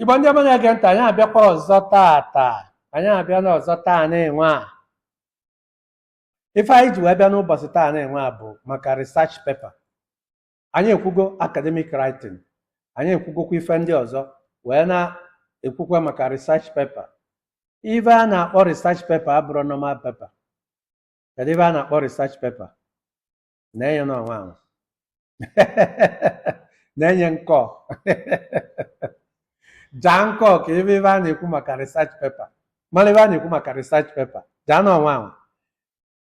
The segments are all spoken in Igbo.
igbo ndị ọma na-ege ntị anyị abịakwa ọzọ tata anyị abịa nụ ọzọ taa nụnwa ife anyị ji wee bịa n'ụbọsị taa nụnwa bụ maka research paper anyị ekwugo academic writing anyị ekwugokwa ife ndị ọzọ wee na-ekwukwa maka research paper ife a na-akpọ research paper abụrọ normal paper kedu ife a na-akpọ research paper na-enye n'ọnwa ahụ na-enye nkọ jaa nkọ ka ị fụ ife a na-ekwu maka research paper mara ife a na-ekwu maka research paper jaa n'ọnwa ahụ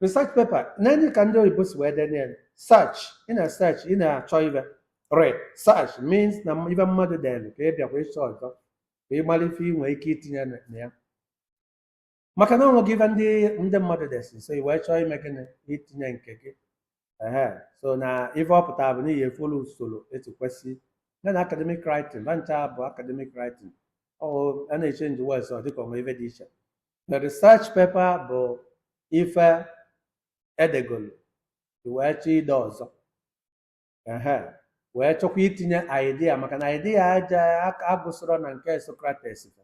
research paper nee anya ka ndị oyibo si wee denye ya search ị na search ị na-achọ ife re search means na ife mmadụ dere ka ị bịakwa ịchọ ọzọ ka ị mara ife ị nwee ike itinye na na ya maka na o nwego ife ndị ndị mmadụ desi so i wee chọọ ime gịnị itinye nke gị ehe so na ife ọ pụtara bụ n'ihi efolu usoro etu kwesị ya na academic writing ba ncha bụ academic writing ọ a na-echenji words ọ dịka o nwe ife dị iche The research paper bụ ife edegolu i wee chọọ ide ọzọ ehe wee chọkwa itinye idea maka na idea aja aka agụsịrọ na nke Socrates fa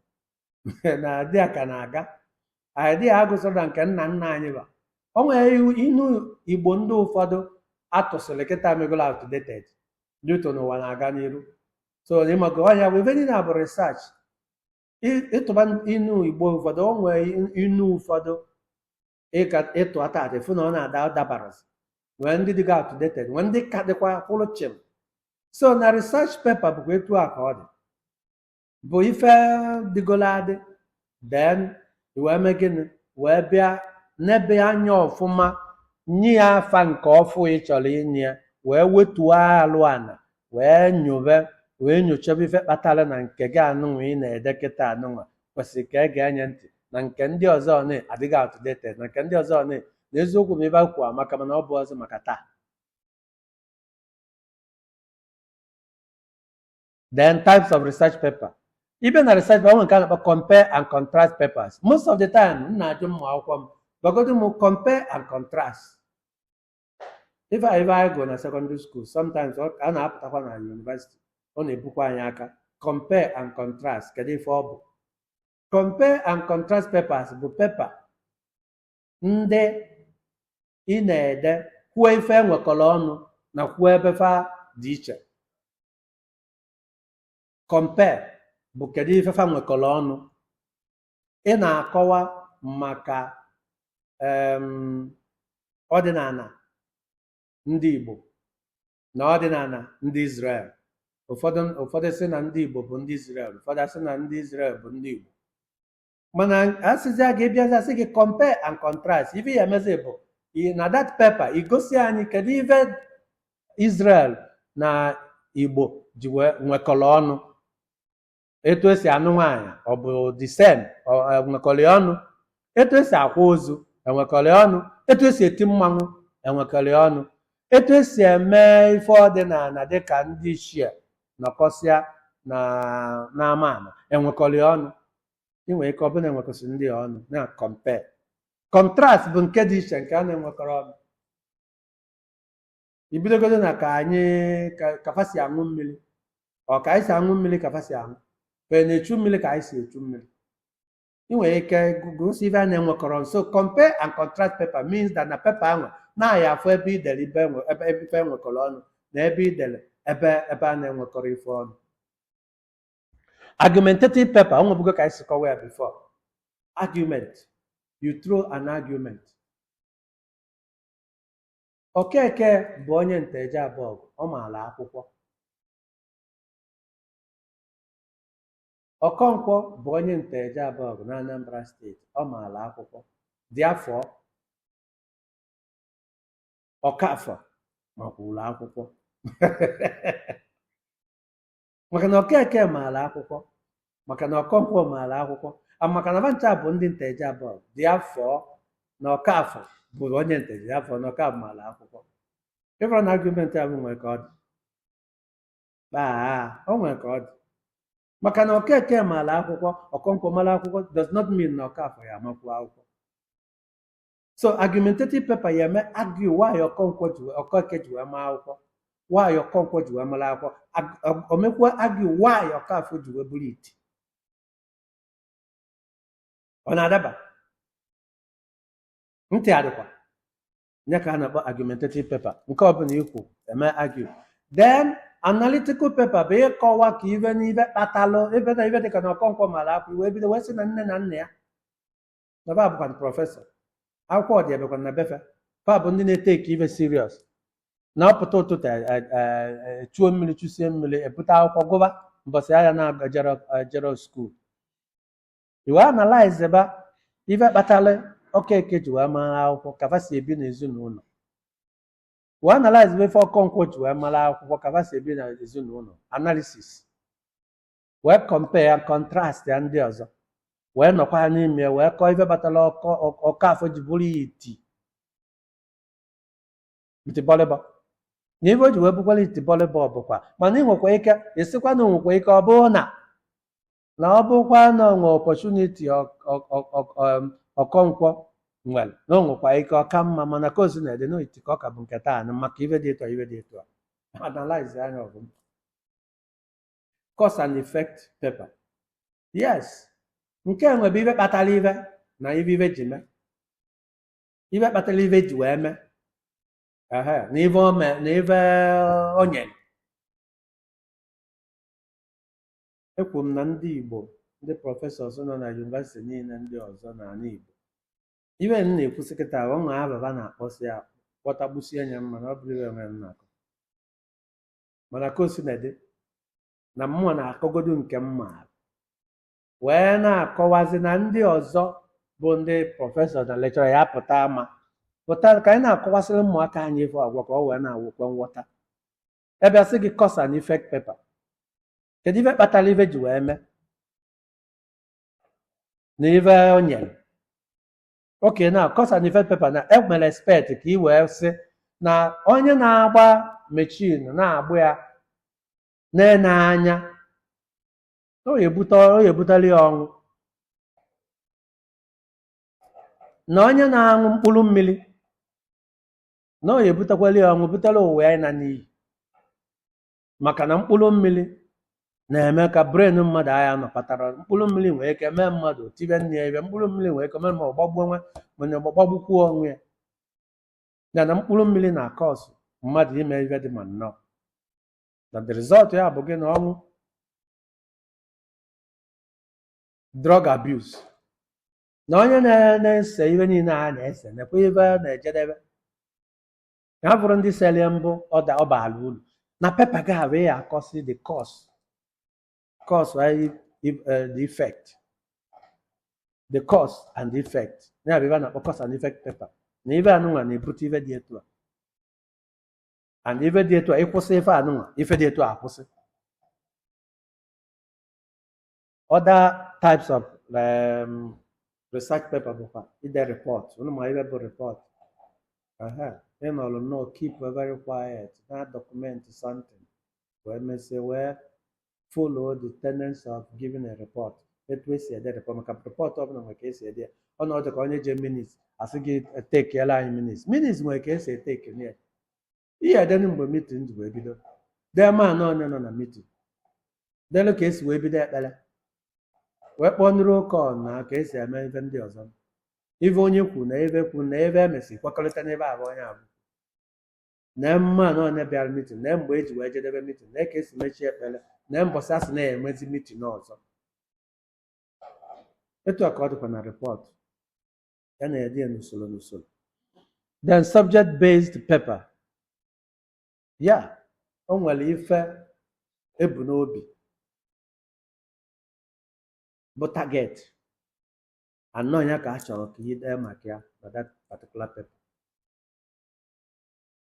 na idea ka na-aga idea agụsịrọ na nke nna nna anyị ba o nwere iwu- inu igbo ndị ụfọdụ a tụsịrị kịta megolo outdated due to na ụwa na-aga n'iru so ị mago ọ nya bụ ife niile a bụ research ị- ị tụba inu igbo ụfọdụ o nwee in- inu ụfọdụ ị ga ị tụa tata ị fụ na ọ na-ada dabarazị nwee ndị dịga outdated nwee ndị ka dịkwa kwụrụ chịm so na research paper bụkwa etu a ka ọ dị bụ ife dịgolo adị then i wee mee gịnị wee bịa nebe anya ọfụma nye ya afa nke ọfụ ị chọrọ inye ya wee wetuo alụ ana wee nyobe wee nyochebe ife kpatara na nke gị anụnwa ị na-ede kịta anụnwa kwesịrị ka e gee nya ntị na nke ndị ọzọ ọ na- adịgo outdated na nke ndị ọzọ ọ na- na eziokwu maybe akwụkwọ amaka mana ọ bụrọzị maka taa then types of research paper even na research paper o nwere nke a na-akpọ compare and contrast papers most of the time m na-ajụ ụmụ akwụkwọ m gwagodu m compare and contrast ife a ife anyị gụrụ na secondary school sometimes ọ a na-apụtakwa na university ọ na-ebukwa anyị aka compare and contrast kedu ife ọ bụ compare and contrast papers bụ pepa ndị ị na-ede kwuo ife e nwekọrọ ọnụ na kwuo ebe fa dị iche compare bụ kedu ife fa nwekọrọ ọnụ ị na-akọwa maka em, ọdịnala ndị Igbo na ọdịnala ndị Izrel ụfọdụ ụfọdụ sị na ndị Igbo bụ ndị Izrel ụfọdụ asị na ndị Izrel bụ ndị Igbo mana asịzi a ga-abịazi asị gị compare and contrast ife ị ya-emezi bụ i- na that paper igosi anyị kedu ife Israel na Igbo ji wee nwekọrọ ọnụ etu esi anụ nwaanyị ọ bụ the same enwekọrọ ya ọnụ etu esi akwa ozu enwekọrọ ya ọnụ etu esi eti mmanwụ enwekọrọ ya ọnụ etu esi eme ife ọdịnala dịka ndị ichie nọkọsịa na n'ama ama enwekọrọ ya ọnụ ị nwere ike ọ bụrụ na enwekọsị ndị a ọnụ na compare contrast bụ nke dị iche nke a na-enwekọrọ ọnụ i bidogodo na ka anyị ka ka fa si aṅụ mmiri ọ ka anyị si aṅụ mmiri ka fa si aṅụ ka ị na-echu mmiri ka anyị si echu mmiri ị nwere ike gosi ife a na-enwekọrọ so compare and contrast paper means that na paper ahụ na a ya-afụ ebe i dere ife enwe- ebe ebe ife enwekọrọ ọnụ na ebe i dere ebe ebe a na-enwekọrọ ife ọnụ argumentative paper o nwebugo ka anyị si kọwa ya before argument you throw an argument Okeke bụ onye Nteje Abọgụ ọ maara akwụkwọ Okonkwo bụ onye Nteje Abọgụ na Anambra steeti ọ maara akwụkwọ therefore Okafor makwuru akwụkwọ maka na Okeke maara akwụkwọ maka na Okonkwo maara akwụkwọ and maka na fa ncha bụ ndị Nteje Abọgụ therefore na Okafor bụrụ onye Nteje therefore na Okafor maara akwụkwọ ị fụrụ na argument ahụ nwere ka ọ dị baa o nwere ka ọ dị maka na Okeke maara akwụkwọ Okonkwo maara akwụkwọ does not mean na Okafor ya-amakwu akwụkwọ so argumentative paper ị ya-eme argue why Okonkwo ji wee- Okeke ji wee maa akwụkwọ why Okonkwo ji wee mara akwụkwọ Ag- ọ- o mekwa argue why Okafor ji wee bụrụ iti ọ na-adaba ntị adịkwa ya ka a na-akpọ argumentative paper nke ọbụla i kwu e mee argue then analytical paper bụ ịkọwa ka ife na ife kpatalụ ife na ife dịka na Okonkwo mara akwụkwọ i wee bido wee sị na nne na nna ya na fa bụkwa na prọfesọ akwụkwọ dị ebekwa na be fa fa bụ ndị na-eteki ife serious na ọ pụta ụtụtụ e- e- e- e- chuo mmiri chusie mmiri ebute akwụkwọ gụba mbọsị a na-ejerọ skuul ị wee analyze ba ife kpatara okeke ji wee mara akwụkwọ ka fa si ebi n'ezinụlọ wee analyze ba ife okonkwo ji wee mara akwụkwọ ka fa si ebi n'ezinụlọ analysis wee compare and contrast ya ndị ọzọ wee nọkwa ha n'ime wee kọọ ife kpatara oka- okafọ ji bụrụ ya iti itibọlịbọ na ife o ji wee bụkwara itibọlịbọ bụkwa mana ị nwekwa ike ịsịkwa na o nwekwa ike ọ bụrụ na na ọ bụkwa na o nwee opportunity okonkwo nwere na o nwekwa ike ọ ka mma mana ka o sina dị na iti ka ọ ka bụ nke taa na maka ife dị etu a ife dị etu a analyze anya ọgụm cause and effect paper yes nke a nwa bụ ife kpatara ife na ife ife ji mee ife kpatara ife ji wee mee ehe na ife o mee na ife o nyere ekwuru m na ndị igbo ndị prọfesọs nọ na yunivesiti niile ndị ọzọ n'ala igbo ife m na-ekwusị kịta o nwe afa fa na-akpọsị ya kpọtagbusie anya mana ọ bụrọ ife nwere m na-akọ mana ka o sina dị na mụ na-akọgodu nke m maara wee na-akọwazi na ndị ọzọ bụ ndị prọfesọ na lekchọra ya pụta ama pụta ka anyị na-akọwasịrị ụmụaka anyị ife agwa ka o wee na-enwekwa nghọta ebe a sị gị cause and effect paper kedu ife kpatara ife ji wee mee na ife o nyere Okay, na cause and effect paper na enwere expect ka ị wee sị na onye na-agba mechin na-agba ya na-ene anya ọ ya-ebute ọ ya-ebutara ya ọnwụ na onye na-aṅụ mkpụrụ mmiri na ọ ya-ebutakwara ya ọnwụ butara ụwa ya ịna n'iyi maka na mkpụrụ mmiri na-eme ka brain mmadụ agha nọkọtara mkpụrụ mmiri nwee ike mee mmadụ tibe nne ya ife mkpụrụ mmiri nwee ike mee ma ọ gbagbuo nwa mana ọ gbagbukwuo onwe ya ya na mkpụrụ mmiri na-akọsụ mmadụ ime ife dị ma nnọọ na the result ya bụ gịnị ọnwụ drug abuse na onye na- na-ese ife niile a na-ese nekwa ebe a na-ejedebe ka ha bụrụ ndị sere mbụ ọda ọ baara uru na paper gị a wee akọsị the cause cause and ef- eh, the effect the cause and the effect ya bụ ife a na-akpọ cause and effect paper na ife anụnwa na-ebute ife dị etu a and ife dị etu a ị kwụsị ife anụnwa ife dị etu a akwụsị other types of um, research paper bụkwa ide report unu ma ife bụ report Aha, ị nọrọ nnọọ keep very quiet na document something wee mesie wee follow the tenets of giving a report etu esi ede report maka report ọbụla nwere ka esi ede ya ọ na-adị ka onye je minutes asị gị etekiela anyị minutes minutes nwere ka esi etekele ya ị ya-edenụ mgbe meeting ji wee bido dee manụ onye nọ na meeting delu ka esi wee bido ekpere wee kpọọ nụrụ oke ọ na ka esi eme ife ndị ọzọ ife onye kwuru na ife kwuru na ife emesi kwekọrịta n'ebe afụ onye abụ na manụ onye bịara meeting na mgbe eji wee jedebe meeting na ka esi mechie ekpere na mbọsị asị na-emezi meeting ọzọ etu a ka ọ dịkwa na report ya na-ede ya n'usoro n'usoro then subject based paper ya o nwere ife ebu n'obi bụ target anọ ya ka a chọrọ ka ị dee maka ya na that particular paper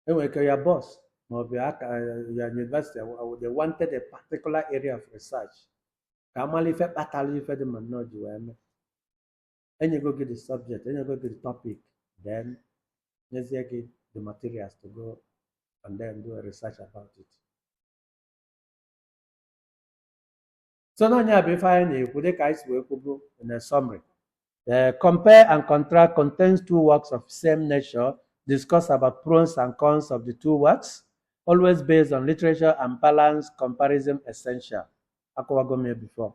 enwere ike your boss maọbụ your aka your university aw- aw- they wanted a particular area of research ka amala ife kpatara ife dị ma nnọọ ji wee mee enyego gị the subject enyego gị the topic then nyezie gị the materials to go and then do a research about it so na nya bụ ife anyị na-ekwu dịka anyị si wee kwubu in a summary Uh, compare and contrast contains two works of same nature. Discuss about pros and cons of the two works, always based on literature and balance comparison essential. Akọwago m ya before.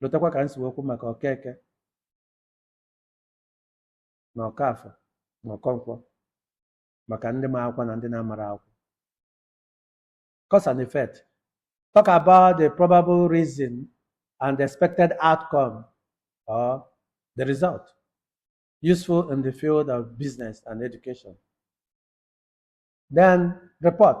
lotakwa ka m si wee kwu maka Okeke na Okafọ na Okonkwọ maka ndị ma akwụkwọ na ndị na-amarọ akwụkwọ cause and effect talk about the probable reason and the expected outcome or the result useful in the field of business and education then report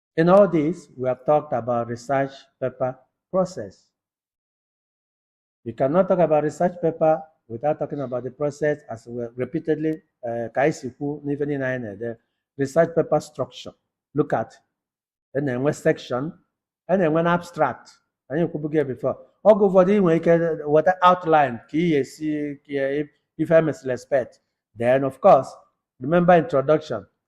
In all this, we have talked about research paper process. You cannot talk about research paper without talking about the process as we repeatedly uh, ka anyị si kwu n'ife niile anyị na-ede research paper structure look at a na-enwe section a na-enwe na abstract anyị ekwubugo ya before oge ụfọdụ ị nwere ike weta outline ka ị ga-esi ka ife emesịrị expect then of course remember introduction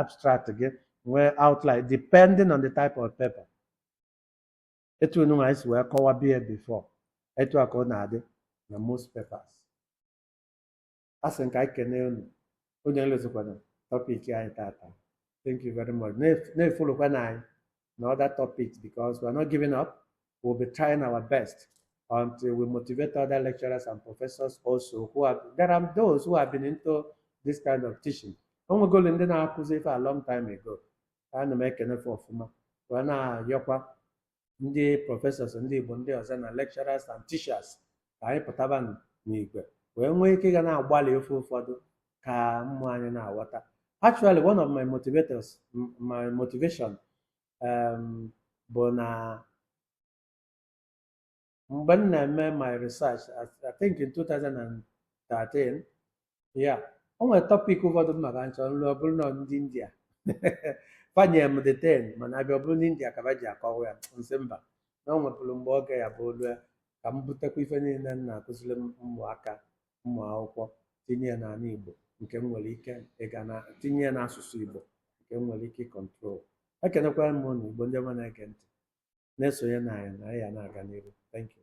abstract gị nwee outline depending on the type of paper etu enu anyị si wee kọwabu ya before etu a ka ọ na-adị na most papers a sị ka anyị kene unu onye elozokwana topic anyị tata thank you very much na-efolokwanụ anyị and other topics because we're not giving up. We'll be trying our best until we motivate other lecturers and professors also who have, there are those who have been into this kind of teaching. O nwegolo ndị na-akụzi ife a long time ago. Ana m ekene fa ọfụma. Wee na-ayọkwa ndị professors ndị Igbo ndị ọzọ na lecturers and teachers ka anyị pụtaba n'igwe wee nwee ike ga na-agbalị ife ụfọdụ ka ụmụ anyị na-aghọta actually one of my motivators m- my motivation um, bụ na mgbe m na-eme my research I, I think in 2013 yeah o nwere topic ụfọdụ m maka nchọ nlụ ọ bụrụ na ndị india fa nyere m detail mana abịa ọ bụrụ na india ka ba ji akọwa ya m sị mba na o nwepụrụ mgbe oge ya bụ olu ya ka m butekwa ife niile m na-akụziri m ụmụaka ụmụ akwụkwọ tinye ya n'ala Igbo nke m nwere ike ịga na tinye ya n'asụsụ Igbo nke m nwere ike ịkọntrol ekenekwara m ụnụ Igbo ndị ọma na-ege ntị na-esonye na anyị na anyị ya na-aga n'ihu thank you